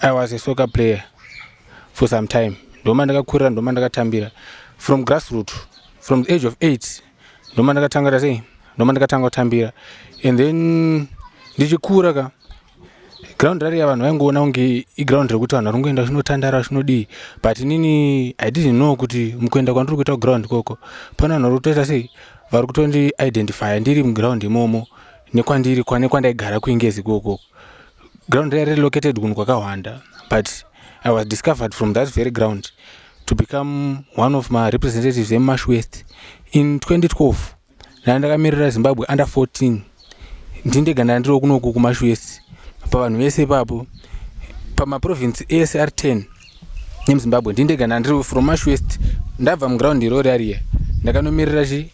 i was a soccer player for some time ndoma ndakakurira ndoma ndakatambira from grassroot from the age of eight ndoma ndakatangata sei ndoma ndakatanga kutambira and then ndichikura ka ground rariya vanhu vaingoona kunge iground rekuti vanhu vari kungoenda zvinotandara zvinodii but inini i didn't know kuti mukuenda kwandiri kuita kuground ikoko pane vanhu vari kutoita sei vari kutondi identifya ndiri muground imomo nekwandiri kwane kwandaigara kuingezi ikokoko ground raive relocated kunhu kwakahwanda but i was discovered from that very ground to become one of marepresentatives emash west in 2012 ndana ndakamirira zimbabwe under 14 ndindega ndana ndiri kunoku kumash west pavanhu vese ipapo pamaprovince ese ari 10 nemuzimbabwe ndindega ndana ndiri from mash west ndabva muground irori ariya ndakanomirira chi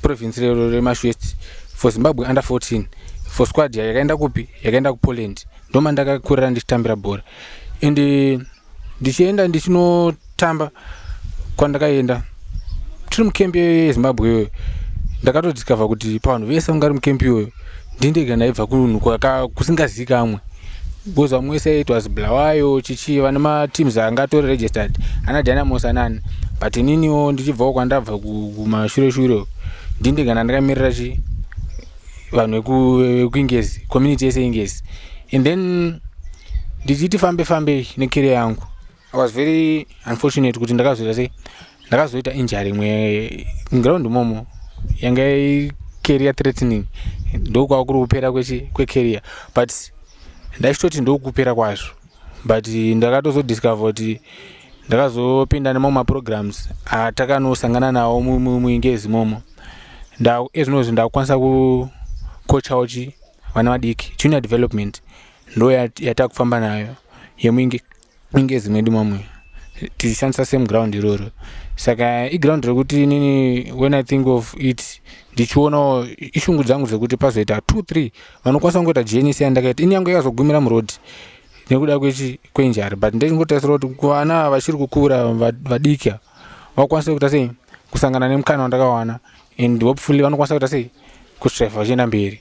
province rero remash west for zimbabwe under 14 for squad yayo yakaenda kupi yakaenda kupoland ndoma ndakakurira ndichitambira bhora and eh, ndichienda ndichinotamba kwandakaenda tiri mukembi yezimbabwe iyoyo ndakatodiscover kuti pavanhu vese vangari mukembi iyoyo ndindega ndaibva kunhu kusingazikamwe because vamwe wese it was blawayo chichi vane mateams anga atori registered ana dynamos anani but ininiwo ndichibvawo kwandabva kumashure shure ndindega ndandakamirira chi vanhu vekuingezi community yese ingezi and then ndichiti fambe fambei nekeria yangu I was very unfortunate kuti ndakazoita sei ndakazoita injury imwe ground momo yanga career threatening ndokwava kuri kupera kwecareer but ndaichitoti ndokupera kwazvo but ndakatozodiscover kuti ndakazopinda nemamwe maprograms atakanosangana nawo muingezi momo ezvinozvi ndakukwanisa kukochawo chi vana vadiki junior development ndo yatakufamba nayo inge zimwe di mamwe tichishandisa same ground iroro saka iground rekuti inini when i think of it ndichionawo ishungu dzangu dzekuti pazoita two three vanokwanisa kungoita jns yandakaita ini yangu yakazogumira muroad nekuda kwechi kwenjari but ndechingotarisira kuti kuvana vachiri kukura vadiki vakwanise kuita sei kusangana nemukana wandakawana and hopefully vanokwanisa kuita sei kutreva vachienda mberi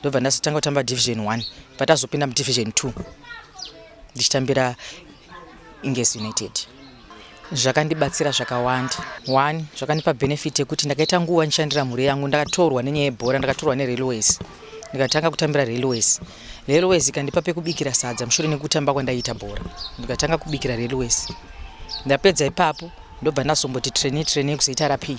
ndobva ndazotanga kutamba division one patazopinda mudivision two ndichitambira ingesi united zvakandibatsira zvakawanda one zvakandipa benefit yekuti ndakaita nguva ndishandira mhuri yangu ndakatorwa nenyaya yebhora ndakatorwa nerailways ndikatanga kutambira railways railways ikandipa pekubikira sadza mushure nekutamba kwandaiita bhora ndikatanga kubikira railways ndapedza ipapo ndobva ndazomboti traini traini yekuzoita rapii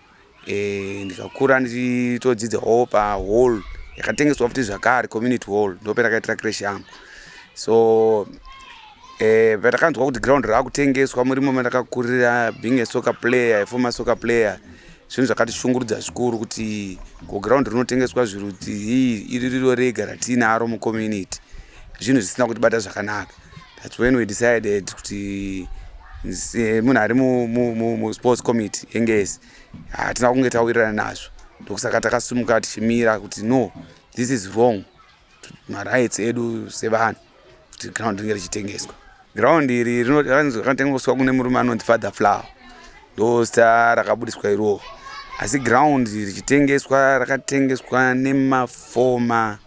eh, ndikakura ndichitodzidza hall pahall yakatengeswa futi zvakare community hall ndopendakaitira crash yangu so eh, patakanzwa kuti ground raakutengeswa murimo mandakakurira being a soccer player aformer soccer player zvinhu zvakatishungurudza zvikuru kuti kuground rinotengeswa zviruti iri riro rega ratiinaro mucommunity zvinhu zvisina kutibata zvakanaka That's when we decided kuti eh, munhu ari musports mu, mu, committee yengezi hatina kunge tawirirana nazvo ndokusaka takasumuka tichimira kuti no this is wrong marights edu sevanhu kuti ground ringe richitengeswa ground iri rinotengeswa kune murume anonzi father flower ndo zita rakabudiswa iroo asi ground richitengeswa rakatengeswa nemafoma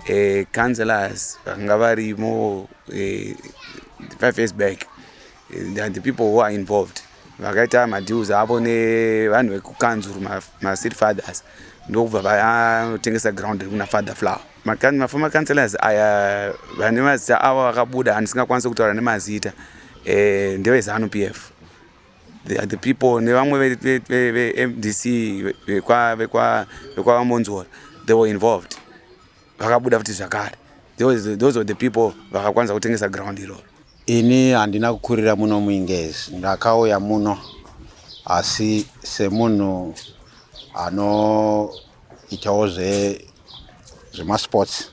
eh, councillors vakanga varimo eh, five years back eh, and the people who are involved vakaita madeals avo nevanhu vekukanzuru macity fathers ndokubva vatengesa ground rekuna father flower maformer councillors aya vane mazita avo vakabuda andisingakwanisi kutaura nemazita eh, ndevezanu p f They are the people nevamwe vemdc vekwavamonzora they were involved vakabuda futi zvakare those were the people vakakwanisa kutengesa ground iroro ini handina kukurira muno muingezi ndakauya muno asi semunhu anoitawo zvemasports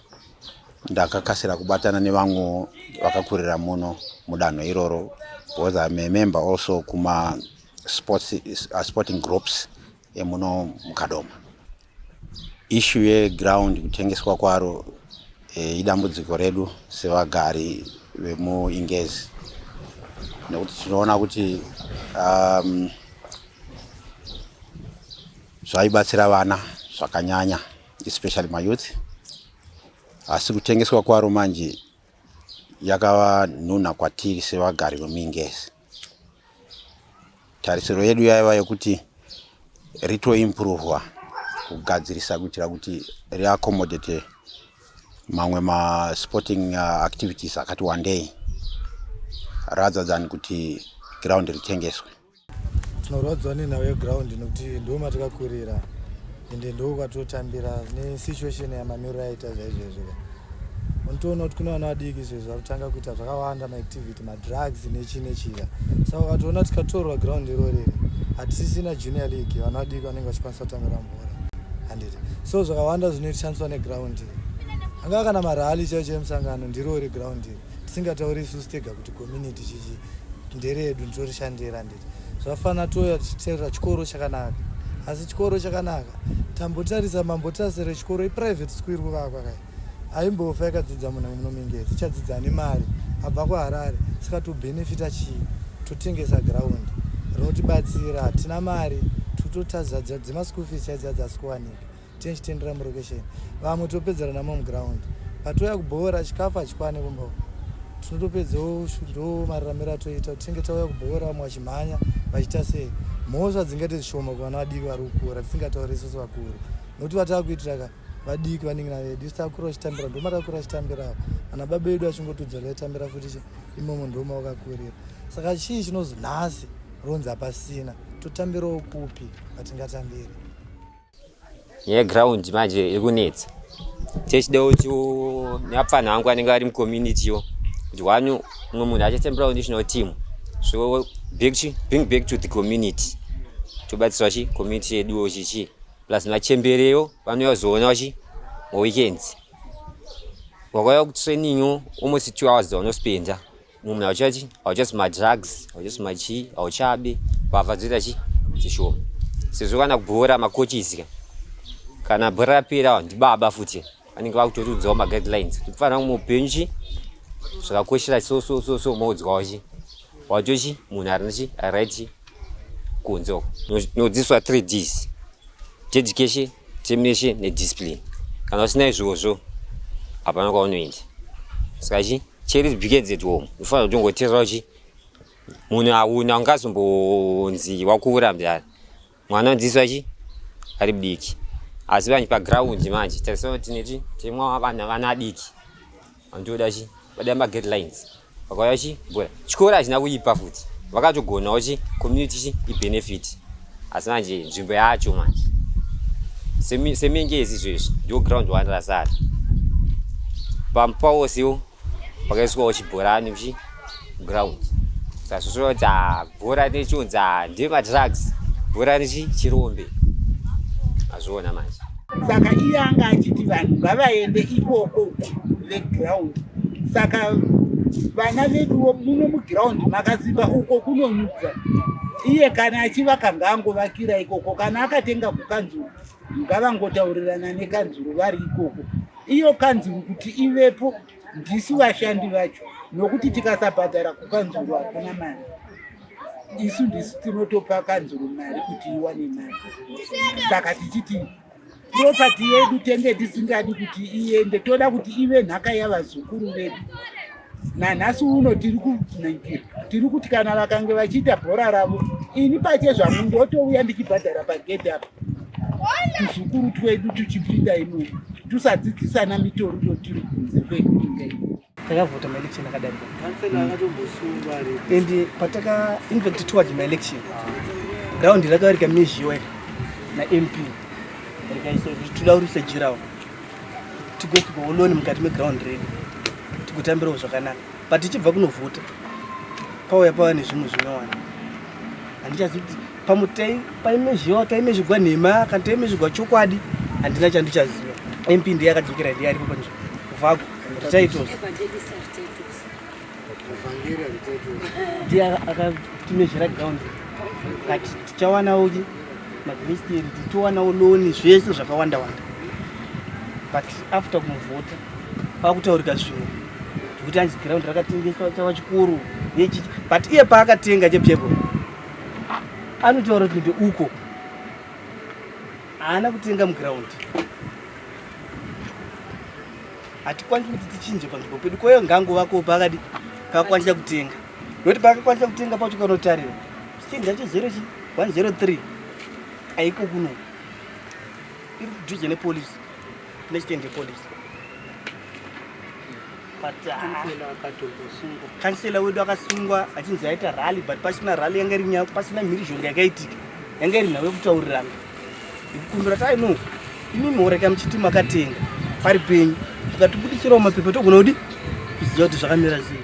ndakakasira kubatana nevamwe vakakurira muno mudanho iroro because I'm a member also kuma sports, uh, sporting groups emuno mukadoma ishu yeground kutengeswa kwaro e, idambudziko redu sevagari vemuingezi nekuti tinoona kuti um, zvaibatsira vana zvakanyanya especially mayouth asi kutengeswa kwaro manje yakava nhunha kwatiri sevagari vemingezi tarisiro yedu yaiva yekuti ritoimprovwa kugadzirisa kuitira kuti riaccomodate mamwe masporting uh, activities akati wandei rather than kuti ground ritengeswe tinorwadziwa nenhau yeground nokuti ndo matakakurira ende ndo kwatotambira nesituation yamamiriro aita zvaizvezvoka unotoona kuti kune vana vadiki izvezvo vari kutanga kuita zvakawanda maactivity madrugs nechi nechika saka ukatoona tikatorwa ground iro riri hatisisina junior league vana vadiki vanenge vachikwanisa kutambira mvura handiti so zvakawanda zvinotishandiswa neground iri angava kana marali chaicho emusangano ndirori ground iri tisingatauri isusu tega kuti community chichi nderedu nditorishandira nditi zvafana touya tichiterera chikoro chakanaka asi chikoro chakanaka tambotarisa mambotase rechikoro iprivate school iri kuvakwa kai aimbofa yakadzidza munhu munomingezi ichadzidza nemari abva kuharare saka tobenefita chii totengesa ground rinotibatsira hatina mari tototadzadza dzemaschool fees chaidzadza asi kuwanika tinchitendera murokesheni vamwe topedzera namo muground patouya kubhoora chikafu hachikwane kumba uku tinotopedzawo ndo mararamiro atoita kuti tinge tauya kubhoora vamwe vachimhanya vachiita sei mhosva dzingaite zvishoma kuvana vadiki vari kukura tisingataure isusu vakuru nokuti vatava kuitira ka vadiki vanenge navedu isu takura vachitambira ndoma takura vachitambirawo ana baba vedu vachingotudzora vaitambira futi imomo ndoma wakakurira saka chii chinozonhasi ronzi hapasina totambirawo kupi patingatambiri yeground manje iri kunetsa techida kuti neapfanha vangu vanenge vari mucommunity yo kuti wani umwe munhu achatemberawo national team so back to, bring back to the community tobatsirwa chi community yeduwo chichi plus machembereyo vanouya kuzoonawo chi maweekends wakauya kutraining almost two hours dzavanospenda munhu hauchachi hauchasi madrugs hauchasi machii hauchabi mbavha dzoita chi dzishoma sezvo kana bhora makochizika kana bhora rapera ndibaba futi vanenge vakutotiudzawo maguidelines kuti kufanira kumwe upenyu chi zvakakoshera so so so so moudzwawo chi watochi munhu arina chi aright chi kunze uko nodzidziswa three ds teeducation termination nediscipline kana usina izvozvo hapana kwaunoenda saka chi cheri begins at home unofanira kutongoteerera uchi munhu auna ungazombonzi wakuvura mdara mwana unodzidziswa chi ari mudiki asi vanhu paground manje tarisana kuti neti timwa vana vana adiki Andoda chi vada ma guidelines vakauya chi bora chikora achina kuipa futi vakatogonawo chi community chi i benefit asi manje nzvimbo yacho manje semengezi izvezvi ndio ground one rasara pamupawosiwo pakaiswawo chibhorani chi ground sazvozvoita bhora nechiunza ndemadrugs bhora nechirombe azviona manje saka iye anga achiti vanhu ngavaende ikoko veground saka vana veduwo muno muground makasimba uko kunonyudza iye kana achivaka ngaangovakira ikoko kana akatenga kukanzuru ngavangotaurirana nekanzuru vari ikoko iyo kanzuru kuti ivepo ndisu vashandi vacho nokuti tikasabhadhara kukanzuru hakuna mari isu ndisu tinotopa kanzuru mari kuti iwane mari saka tichiti propati yedu tenge tisingadi kuti iende toda kuti ive nhaka yavazukuru vedu nanhasi uno tiri kunaikira tiri kuti kana vakange vachiita bhora ravo ini pache zvangu ndotouya ndichibhadhara pagedhi apa tuzukuru twedu tuchipinda imomo Tusadzidzisana mitoriro tiri kunze kwekuinga iyi. takavhota maelection akadarika Councillor akatombosungwa ari and pataka infact towards maelection ground rakavarika mizhiwe namp rikaisa kuti toda kurisa jirawo tigosuka oloni mukati meground redu tigotambirawo zvakanaka but tichibva kunovhota pauya pava nezvimwe zvinowana handichazi kuti pamwe taimezviwa taimezvigwa nhema kana taimezvigwa chokwadi handina chandichaziva mp ndiye akadzokera ndiye aripo panzvimbo kuvako tititles ndiye akatimezvira ground kati tichawanawo ki magmisteri tichiwanawo loni zvese zvakawanda wanda but after kumuvhota kwakutaurika zvimwe zvekuti anzi ground rakatengeswa chava chikuru but iye paakatenga chepyebolo anotaura kuti ndeuko haana kutenga muground hatikwanisi kuti tichinje panzvimbo pedu kwayo ngango vako pakadi kakwanisa kutenga noti pakakwanisa kutenga pacho kanotarira chichinji chacho zero chi 103 aiko kuno iri kudhuze nepolisi Let's send the police. But kansela uh, wedu akasungwa achinzi aita rally but pasina rally yanga iri nyaya pasina mhirizhonga yakaitika yanga iri nhau yekutaurirana kumbira tai no imimi horeka muchiti makatenga pari penyu tikatibudisirawo mapepa togona kudi kuziva kuti zvakamira sei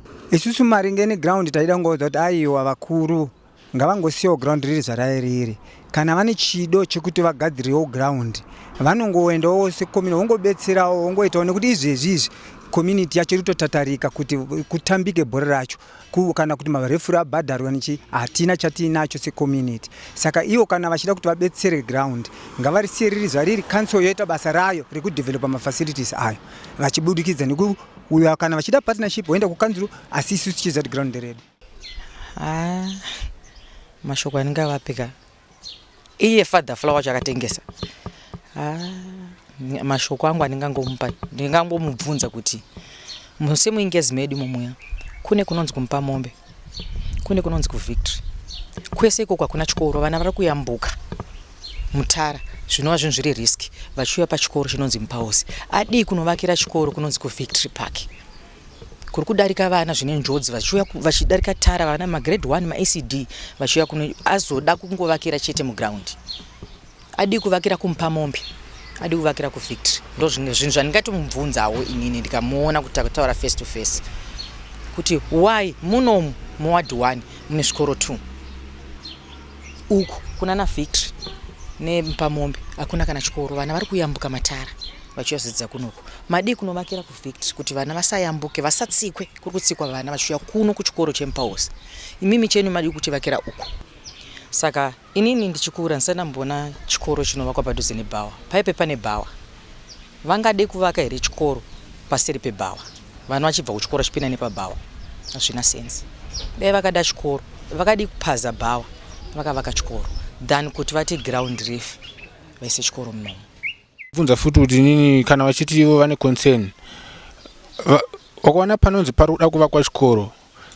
Isusu maringe neground taida kungoudza kuti aiwa vakuru ngavangosiyawo ground riri zvarairiri kana vane chido chekuti vagadzirewo ground vanongoendawo sekomini vongobetserawo vongoitawo nekuti izvezvi izvi community yacho iri kutotatarika kuti kutambike bhora racho kana kuti marefuri abhadharwa nechi hatina chatiinacho secommunity saka ivo kana vachida kuti vabetsere ground ngavarisiye riri zvariri council yoita basa rayo rekudevelopa mafacilities ayo vachibudikidza neku uyo kana vachida partnership voenda kukanzuru asi isu tichiza kuti ground nderedu ah, mashoko anenge avapika iye father flower wacho akatengesa ah, mashoko angu andingangomupa ndingangomubvunza kuti musemuingezi medu mumuya kune kunonzi kumupa mombe kune kunonzi kuvictory kwese ikoko hakuna chikoro vana vari kuyambuka mutara zvinova zvinhu zviri risk vachiuya pachikoro chinonzi mupaosi adii kunovakira chikoro kunonzi kuvictory park kuri kudarika vana zvine njodzi vachiuya vachidarika tara vana magrade one maecd vachiuya kuno azoda kungovakira chete mugraundi Adii kuvakira kumupamombe adi kuvakira kuvictory ndo zvimwe zvinhu zvandingatomubvunzawo inini ndikamuona kuti takutaura face to face kuti why munomu muwadi one mune zvikoro two uku kuna na victory nepamombe hakuna kana chikoro vana vari kuyambuka matara vachiyazodzidza kunoku madii kunovakira kuvictory kuti vana vasayambuke vasatsikwe kuri kutsikwa vana vachiuya kuno kuchikoro chemupaosi imimi chenu madii kutivakira uku saka Inini ndichikura ndisati ndamboona chikoro chinovakwa padhuze nebhawa. Paipe pane bhawa. Vangade kuvaka here chikoro paseri pebhawa? Vana vachibva kuchikoro vachipinda nepabhawa. Hazvina sense. Dai vakada chikoro, vakadii kupaza bhawa vakavaka chikoro than kuti vati ground refu vaise chikoro munomu. bvunza futi kuti nini kana vachiti ivo vane concern wakaona panonzi pari kuda kuvakwa chikoro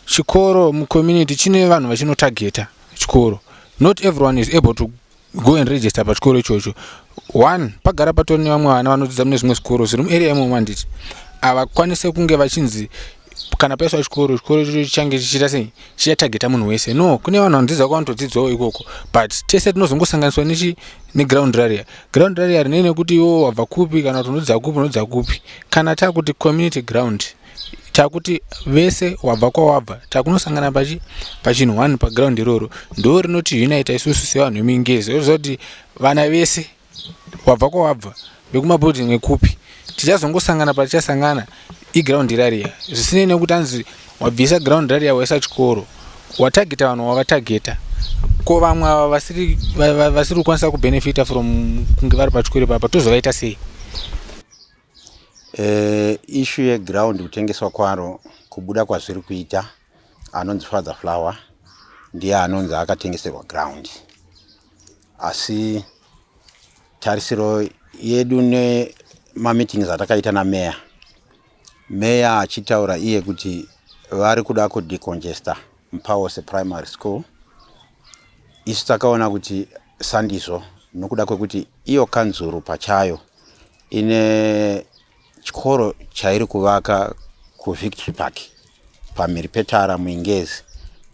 chikoro mucommunity chine vanhu vachinotageta chikoro not everyone is able to go and register pachikoro ichocho one pagara patori nevamwe vana vanodzidza mune zvimwe zvikoro zviri muarea imomo handiti havakwanise kunge vachinzi kana paiswa chikoro chikoro ichocho chichange chichiita sei chichatageta munhu wese no kune vanhu vanodzidza kwavanotodzidzawo ikoko but tese tinozongosanganiswa nechi neground raria ground raria rinei nekuti iwo wabva kupi kana kuti unodzidza kupi unodzidza kupi kana takuti community ground takuti vese wabva kwawabva takunosangana pachi pachinhu one paground iroro ndo rinoti unita isusu sevanhu vemingezi oziva kuti vana vese wabva kwawabva vekumabuilding ekupi tichazongosangana patichasangana iground rariya zvisinei nekuti anzi wabvisa ground rariya waisa chikoro watageta vanhu wavatageta ko vamwe ava vasiri vasiri kukwanisa kubenefita from kunge vari pachikoro ipapa tozovaita sei eh, ishu yeground kutengeswa kwaro kubuda kwazviri kuita anonzi father flower ndiye anonzi akatengeserwa ground asi tarisiro yedu nemameetings atakaita nameya meya achitaura iye kuti vari kuda kudecongesta mupawose primary school isu takaona kuti sandizvo nokuda kwekuti iyo kanzuru pachayo ine chikoro chairi kuvaka kuvictory park pamhiri petara muingezi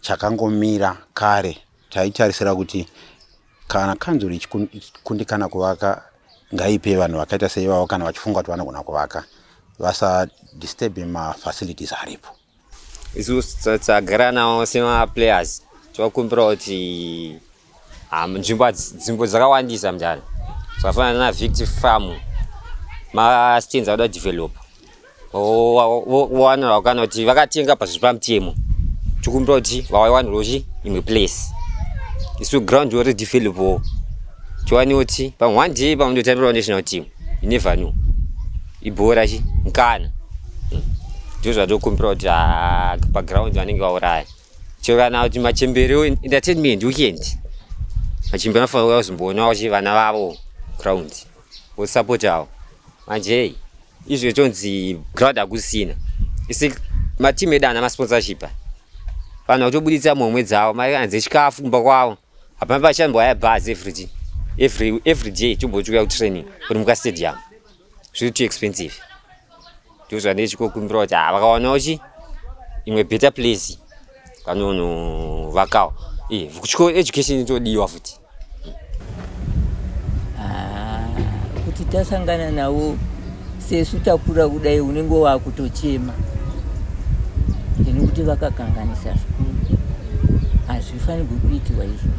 chakangomira kare Taitarisira kuti kana kanzuru ichikundikana kuvaka ngaipe vanhu vakaita seivavo kana vachifunga kuti vanogona kuvaka vasadisturbe mafacilities aripo isu tagara nawo semaplayers tinokumbira kuti ah, nzvimbo nzvimbo dzakawandisa mudare zvakafanana navicti farm mastands akuda develop vowanira vakana kuti vakatenga pazviri pamutemo tikumbira kuti vawaiwanirwa chi imwe place isu ground ori developwo tiwane kuti pamwe one day pamwe ndotambirawo national team inever new ibhora chi mkana hmm. ndizvo zvatikumbira kuti ah, paground vanenge vauraya chero kana kuti machembere entertainment weekend machembere anofanira kuya kuzomboona kuti vana vavo ground vosapotawo manje izvo ichonzi ground hakusina isi matimu edu ana masponsorship vanhu vakutobuditsa mhomwe dzavo mari anze chikafu kumba kwavo hapana pachambwa ya bus every every every day chombochiuya kutraining kuri muka stadium zviri too expensive ndo zvandee chikokumbira kuti ha ah, vakawanawo chi imwe better place vanonovakawo e eh, kuchikoro education itodiwa futi Ah, kuti tasangana navo sesu takura kudai unenge wakutochema ini kuti vakakanganisa zvikuru hazvifanirwi kuitiwa izvo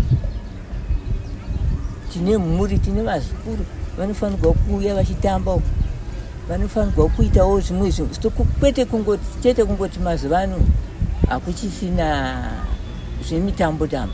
tine mhuri tine vazukuru vanofanirwa kuuya vachitamba uku vanofanirwa kuitawo zvimwe kwete kungoti chete kungoti mazuva ano hakuchisina zvemitambo tambo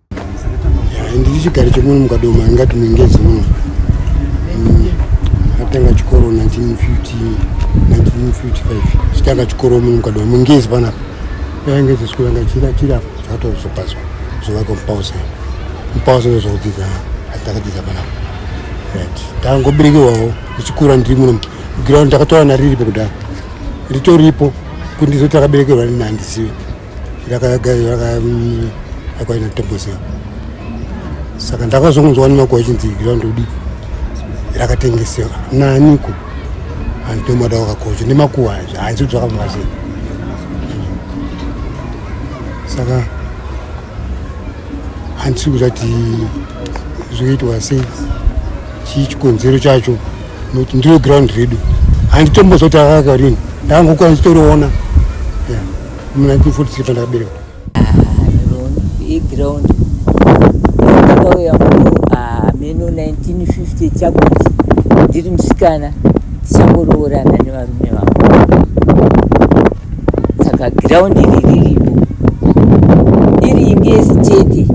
handiti chigari chemuno mukadoma ingati muingezi muno mm, atanga chikoro 1950 1955 chitanga chikoro muno mukadoma muingezi panapa yainge zesukuru yanga chira chira zvatozopazwa zvovaka mupausa mupausa ndozvakudzidza atakadzidza panapa right tangoberekewawo ndichikura ndiri muno ground ndakatowana riripo kudaro ritoripo kuti ndizoti akaberekerwa nini handizivi yakaina tembosea saka ndakazongonzwa nemakuwa ichinzi ground udi rakatengesewa naniko hanzi ndomada wakakocha nemakuwa hanzi kuti zvakafamba sei saka handisi kuzati zvoitwa sei chii chikonzero chacho nokuti ndiro ground redu handitombozoti akakarini ndangokwanisa toroona mu 1943 pandakaberekwa yeground ndakauya muno hameno 1950 chakuti ndiri musikana tichangoroorana nevarume vangu saka ground iri riripo iri imbi yesitete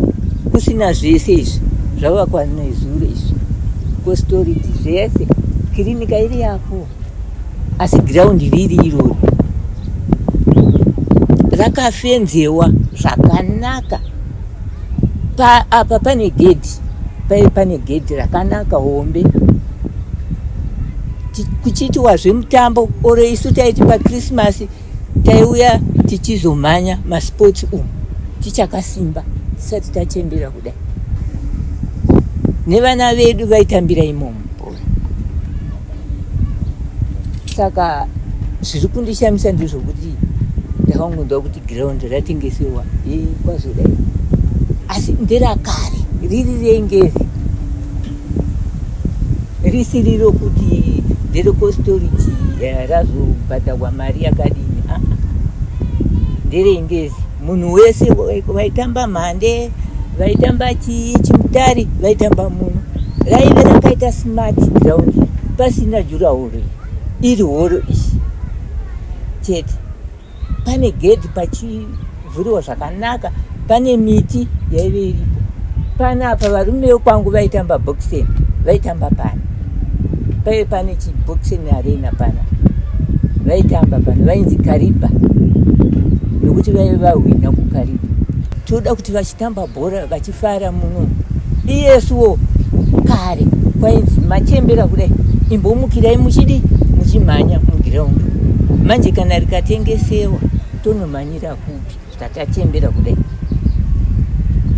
kusina zvese izvi zvavakwa nezuro izvi kositoriti zvese kirinika iri yapo asi giraundi riri irori rakafenzewa zvakanaka pa, apa pane gedhi paive pane gedhi rakanaka hombe kuchiitiwa zvemutambo oro isu taiti pakrisimasi taiuya tichizomhanya masports umu tichakasimba tisati tachembera kudai nevana vedu vaitambira imomo saka zviri kundishamisa ndezvokuti ndakangonzwa kuti ground ratengesewa ye kwazodai asi nderakare riri rengezi risiri rokuti nderekostoriti eh, razobhadharwa mari yakadini aa ah, ah. nderengezi munhu wese vaitamba mhande vaitamba chii chimutari vaitamba muno raive rakaita smart ground pasina jurahoro iri horo ichi chete pane gedhi pachivhuriwa zvakanaka pane miti yaive iripo panapa varume vekwangu vaitamba boxing vaitamba pano paive pane chiboxing arena pana vaitamba pana vainzi kariba nokuti vaive vahwina kukariba toda kuti vachitamba bhora vachifara muno iyesuwo kare kwainzi machembera kudai imbomukirai muchidi muchimhanya mugiraundi manje kana rikatengesewa tonomhanyira kupi saka tachembera kudai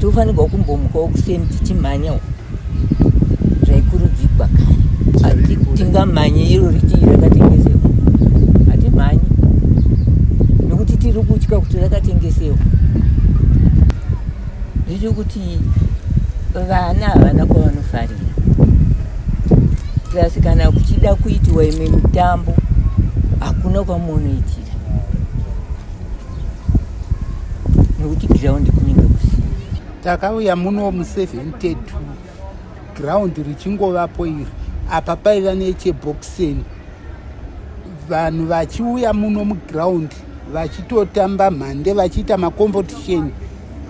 tofanirwa kumbomukawo kuseni tichimhanyawo zvaikurudzigwa kare tingamhanye iro ritii rakatengesewa hatimhanye nekuti tiri kutya kuti rakatengesewa zvicho kuti vana havana kwavanofarira plus kana kuchida kuitiwa imwe mitambo hakuna kwamunoitira nekuti ground kunenge kusina takauya muno mu 72 ground richingovapo iri apa paiva necheboxeni vanhu vachiuya muno muground vachitotamba mhande vachiita macompetition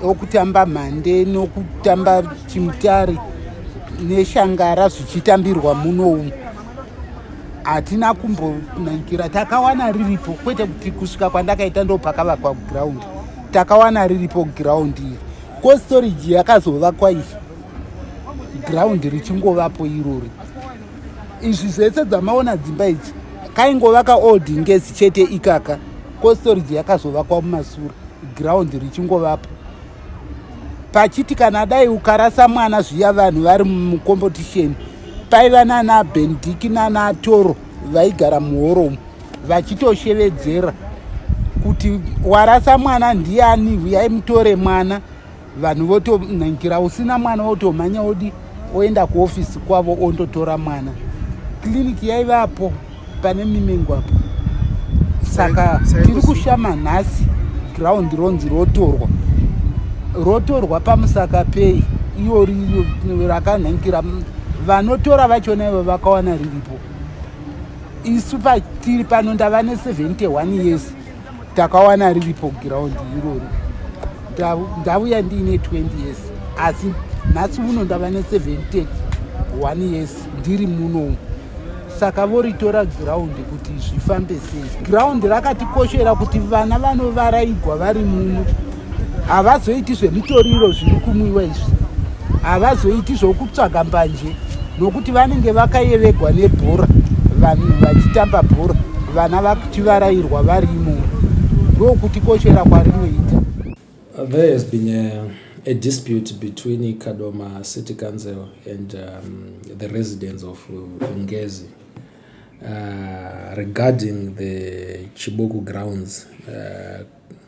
okutamba mhande nokutamba chimutare neshangara zvichitambirwa muno umu hatina kumbonaikira takawana riripo kwete kuti kusvika kwandakaita ndopakavakwa ground takawana riripo ground iri ko storage yakazovakwa iyi ground richingovapo irori izvi zvese dzamaona dzimba idzi kaingovaka old ngezi chete ikaka ko storage yakazovakwa mumasura ground richingovapo pachiti kana dai ukarasa mwana zviya vanhu vari mucompetition paiva nana bendiki nana toro vaigara muhoromu vachitoshevedzera kuti warasa mwana ndiani huyai mutore mwana vanhu votonangira usina mwana wotomhanya wodi oenda kuofisi kwavo ondotora mwana kliniki yaivapo pane mimengo apo saka tiri kushama nhasi ground ronzi rotorwa rotorwa pamusaka pei iyo rakanhankira vanotora vachona ivo vakawana riripo isu patiri pano ndava ne71 years takawana riripo giraundi irori ndavuya ndiine 20 years asi nhasi uno ndava ne7 one years ndiri munomu saka voritora giraundi kuti zvifambe sei giraundi rakatikoshera kuti vana vanovaraigwa vari muno havazoiti zvemitoriro zviri kumwiwa izvi havazoiti zvokutsvaga mbanje nokuti vanenge vakayeregwa nebhora vanhu vachitamba bhora vana vachivarairwa vari imomo ndokuti koshera kwarinoita there has been a, a dispute between kadoma city council and um, the residents of vungezi uh, regarding the chiboku grounds uh,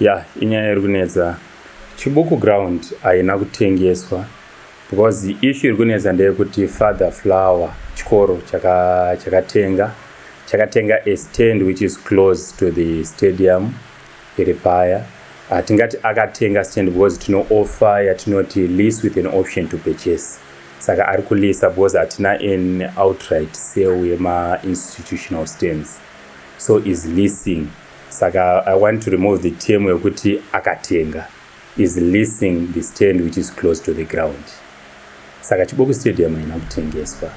Yeah, inyaya iri kunetsa. Chibuku ground haina kutengeswa because issue iri kunetsa ndeyekuti Father Flower chikoro chaka chakatenga chakatenga a stand which is close to the stadium iri paya. Hatingati akatenga stand because tino offer yatinoti lease with an option to purchase. Saka ari kulisa because hatina an outright sale yema institutional stands. So is leasing Saka I want to remove the term yekuti akatenga is leasing the stand which is close to the ground. Saka Chiboku Stadium haina kutengeswa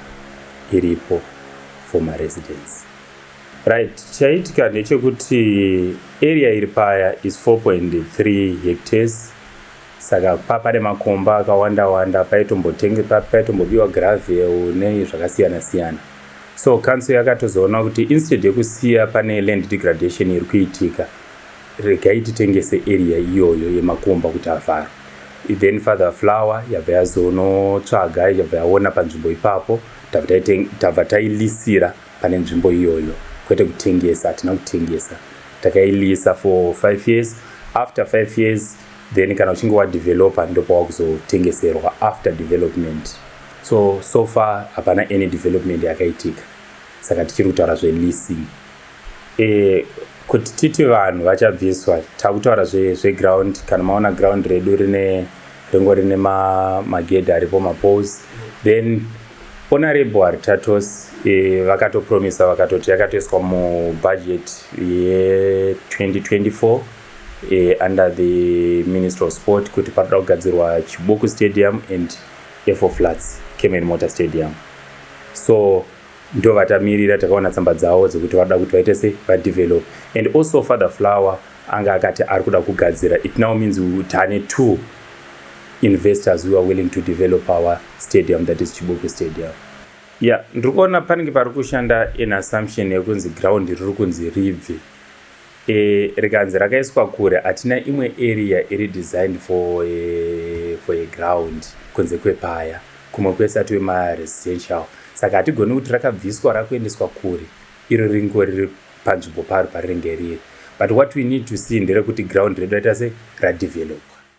iripo for my residence. Right, chaitika ndechekuti area iri paya is 4.3 hectares saka pa pane makomba akawanda wanda paitombotengepa paitombobiwa gravel nei zvakasiyana siyana So council yakatozoona kuti instead yekusiya pane land degradation iri kuitika regai titengese area iyoyo yemakomba kuti avharwe then father flower yabva yazonotsvaga yabva yaona panzvimbo ipapo tabva tailisira pane nzvimbo iyoyo kwete kutengesa hatina kutengesa takailisa for five years after five years then kana uchinge wadevelopa ndopawaa kuzotengeserwa after development So so far hapana any development yakaitika saka tichiri kutaura zveleasing e, kuti titi vanhu vachabviswa takutaura zveground zve kana maona ground redu rine ringo rine magedhi ma aripo mapose then honorable haritatos e, vakatopromisa vakatoti yakatoiswa mubudget ye2024 e, under the minister of sport kuti panoda kugadzirwa chibuku stadium and F4 Flats Kemen Motor Stadium so ndovatamirira takaona tsamba dzavo dzekuti vanoda kuti vaite se vadevelop and also father flower anga akati ari kuda kugadzira it now means tane two investors who are willing to develop our stadium that is chibuku stadium ya yeah, ndiri kuona panenge pari kushanda in assumption yekunzi ground riri kunzi ribve e, rikanzi rakaiswa kure hatina imwe area iri designed for a, eh, for a ground kunze kwepaya kumwe kwese atiwe maresidential saka hatigoni kuti rakabviswa rakuendeswa kure iro ringo riri panzvimbo paro parinenge riri but what we need to see nderekuti ground redu raita se radevelopwa